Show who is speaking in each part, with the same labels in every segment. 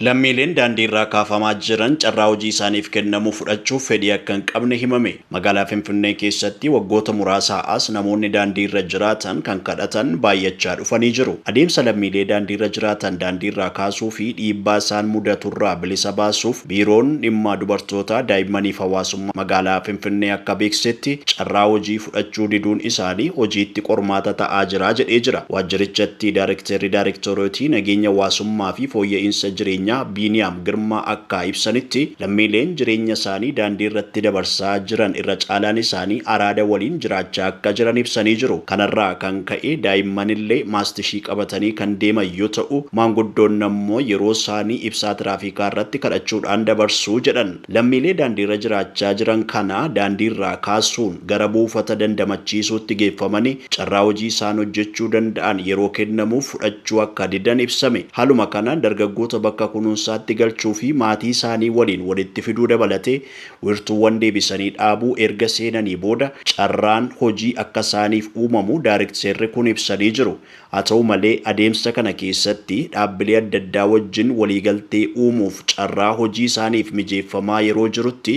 Speaker 1: Lammiileen daandiirraa kaafamaa jiran carraa hojii isaaniif kennamu fudhachuuf fedhii akka hin qabne himame. Magaalaa Finfinnee keessatti waggoota muraasaa as namoonni daandiirra jiraatan kan kadhatan baay'achaa dhufanii jiru. Adeemsa lammiilee daandiirra jiraatan daandiirraa kaasuu fi dhiibbaa isaan mudaturraa bilisa baasuuf Biiroon Dhimma Dubartootaa, Daa'immanii fi Hawaasummaa Magaalaa Finfinnee akka beeksisetti carraa hojii fudhachuu diduun isaanii hojiitti qormaata ta'aa jira jedhee jira. Waajjirichatti Daarekteerri Daarektoreetii Nageenya Hawaasummaa fi Fooyya'iinsa Jireenyaa Biiniyaam Girmaa akkaa ibsanitti, lammiileen jireenya isaanii daandii irratti dabarsaa jiran irra caalaan isaanii araada waliin jiraachaa akka jiran ibsanii jiru. Kanarraa kan ka'e daa'imman illee maastishii qabatanii kan deeman yoo ta'u, maanguddoon ammoo yeroo isaanii ibsaa tiraafikaa irratti kadhachuudhaan dabarsu jedhan. Lammiilee daandiirra jiraachaa jiran kana daandiirraa kaasuun gara buufata dandamachiisuutti geeffamani carraa hojii isaan hojjechuu danda'an yeroo kennamuuf fudhachuu akka didan ibsame. Haaluma kanaan dargaggoota bakka kunuunsaatti galchuu fi maatii isaanii waliin walitti fiduu dabalatee wiirtuuwwan deebisanii dhaabuu erga seenanii booda carraan hojii akka isaaniif uumamu daarikteerri kun ibsanii jiru. Haa ta'u malee, adeemsa kana keessatti dhaabbilee adda addaa wajjin waliigaltee uumuuf carraa hojii isaaniif mijeeffamaa yeroo jirutti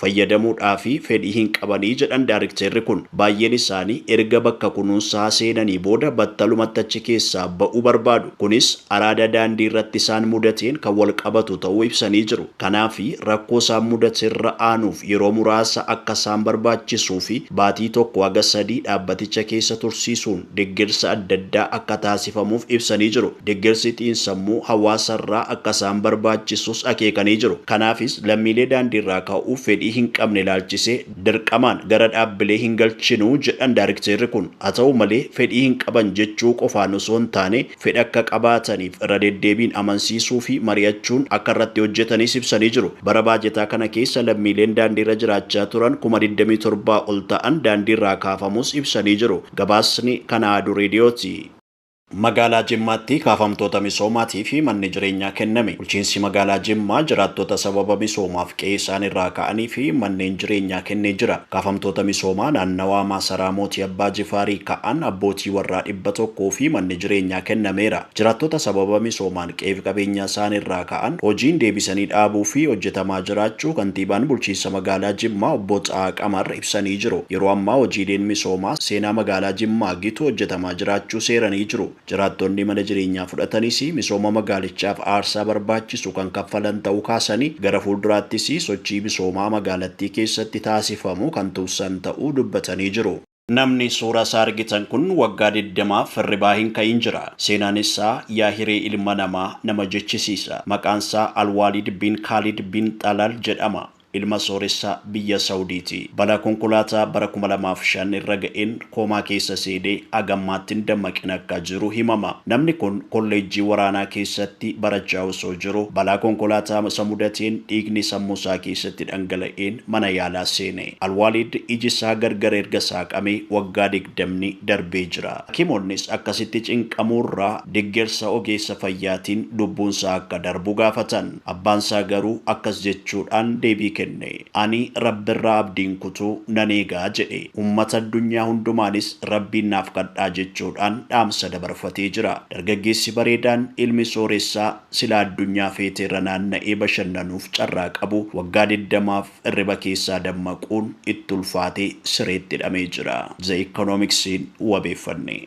Speaker 1: fayyadamuudhaaf fedhii hin qabani jedhan daarikteerri kun. Baay'een isaanii erga bakka kunuunsaa seenanii booda battalumatti achi keessaa ba'uu barbaadu. Kunis araada daandii irratti isaan mudateen kan walqabatu ta'uu ibsanii jiru. Kanaaf, rakkoo isaan mudate irra aanuuf yeroo muraasa akka isaan barbaachisuufi baatii tokko haga sadii dhaabbaticha keessa tursiisuun deggersa adda addaa akka taasifamuuf ibsanii jiru. Deggersi xiinsammuu hawaasarraa akka isaan barbaachisus akeekanii jiru. Kanaafis lammiilee daandiirraa ka'uuf fedhii hin qabne ilaalchisee dirqamaan gara dhaabbilee hin galchinu jedhan daarikteerri kun. Haa ta'u malee fedhii hin qaban jechuu qofaan osoo hin taane fedha akka qabaataniif irra deddeebiin amansiisuu fi mari'achuun akka irratti hojjetanis ibsanii jiru. Bara baajetaa kana keessa lammiileen daandiirra jiraachaa turan kuma 27 ol ta'an daandiirraa kaafamuus ibsanii jiru. Gabaasni Kan Ahadu Reediyooti. Magaalaa Jimmaatti kaafamtoota misoomaatiif manni jireenyaa kenname. Bulchiinsi Magaalaa Jimmaa jiraattota sababa misoomaaf qe'ee isaaniirraa ka'aniif manneen jireenyaa kennee jira. Kaafamtoota misoomaa naannawaa Maasaraa Mootii Abbaa Jifaarii ka'an abbootii warraa dhibba tokkoo fi manni jireenyaa kennameera. Jiraattoota sababa misoomaan qe'eef qabeenyaa isaani irraa ka'an hojiin deebisanii dhaabuu fi hojjetamaa jiraachuu Kantiibaan Bulchiinsa Magaalaa Jimmaa Obbo Xahaa Qamar ibsanii jiru. Yeroo ammaa hojiileen misoomaa seenaa Magaalaa Jimmaa gitu hojjetamaa jiraachuu seeranii jiru. Jiraattonni mana jireenyaa fudhatanis misooma magaalichaaf aarsaa barbaachisu kan kaffalan ta'uu kaasanii, gara fuulduraattis sochii misoomaa magaalattii keessatti taasifamu kan tumsan ta'uu dubbatanii jiru. Namni suura isaa argitan kun waggaa digdamaaf hirribaa hin ka'in jira. Seenaan isaa yaa hiree ilma namaa nama jechisiisa. Maqaan isaa Alwaalid bin Kaalid bin Xalal jedhama. Ilma sooressa biyya Sawudiiti. Balaa konkolaataa bara kuma lamaa fi shan irra ga'een koomaa keessa seenee haga ammaatti hin dammaqin akka jiru himama. Namni kun kolleejjii waraanaa keessatti barachaa osoo jiru balaa konkolaataa isa mudateen dhiigni sammuu isaa keessatti dhangala'een mana yaalaa seene. Alwaalid iji isaa gargar erga saaqamee waggaa digdamni darbee jira. Hakimoonnis akkasitti cinqamuurra deggersa ogeessa fayyaatiin lubbuun isaa akka darbu gaafatan. Abbaan isaa garuu akkas jechuudhaan deebii kenne. Ani Rabbirraa abdii hin kutu, nan eega, jedhe. Ummata addunyaa hundumaanis Rabbiin naaf kadhaa jechuudhaan dhaamsa dabarfatee jira. Dargaggeessi bareedaan ilmi sooressaa silaa addunyaa feeteerra naanna'ee bashannanuuf carraa qabu waggaa digdamaaf, Hirriba keessaa dammaquun itti ulfaatee sireetti hidhamee jira. The Economics'n wabeeffanne.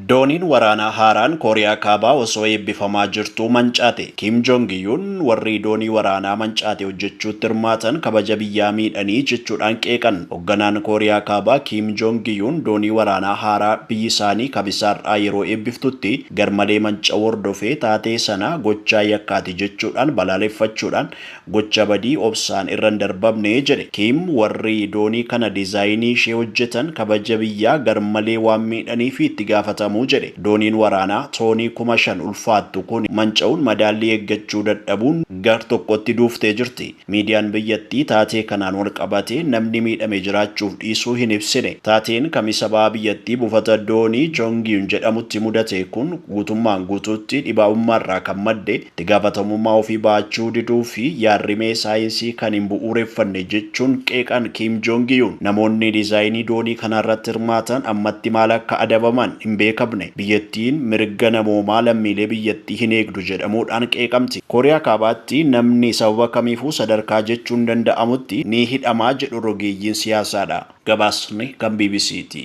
Speaker 1: Dooniin waraanaa haaraan Kooriyaa Kaabaa osoo eebbifamaa jirtuu mancaate. Kim Jong Yuun warri doonii waraanaa mancaate hojjechuutti hirmaatan kabaja biyyaa miidhanii jechuudhaan qeeqan. Hogganaan Kooriyaa Kaabaa Kim Jong Yuun doonii waraanaa haaraa biyyi isaanii Kamisa har'aa yeroo eebbiftutti garmalee manca'uu hordofee taatee sana gochaa yakkaati jechuudhaan balaaleffachuudhaan Gocha badii obsaan irra hin darbamne, jedhe Kiim. Warri doonii kana dizaayinii ishee hojjetan kabaja biyyaa garmalee waan miidhaniif itti gaafatamu, jedhe. Dooniin waraanaa toonii kuma shan ulfaattu kun manca'uun madaallii eeggachuu dadhabuun gar tokkotti duuftee jirti. Miidiyaan biyyattii taatee kanaan walqabatee namni miidhame jiraachuuf dhiisuu hin ibsine. Taateen Kamisa baha biyyattii buufata doonii Jongyun jedhamutti mudate kun guutummaan guutuutti dhibaa'ummaarraa kan madde, Itti gaafatamummaa ofii ba'achuu diduu fi yaad-rimee saayinsii kan hin bu'uureffanne jechuun qeeqan Kiim Joongi Yuun. Namoonni dizaayinii doonii kanaa irratti hirmaatan ammatti maal akka adabaman hin beekamne. Biyyattiin mirga namoomaa lammiilee biyyattii hin eegdu jedhamuudhaan qeeqamti. Kooriyaa Kaabaatti namni sababa kamiifuu sadarkaa jechuun danda'amutti ni hidhama jedhu rogeeyyiin siyaasaadha. Gabaasni kan bbc ti.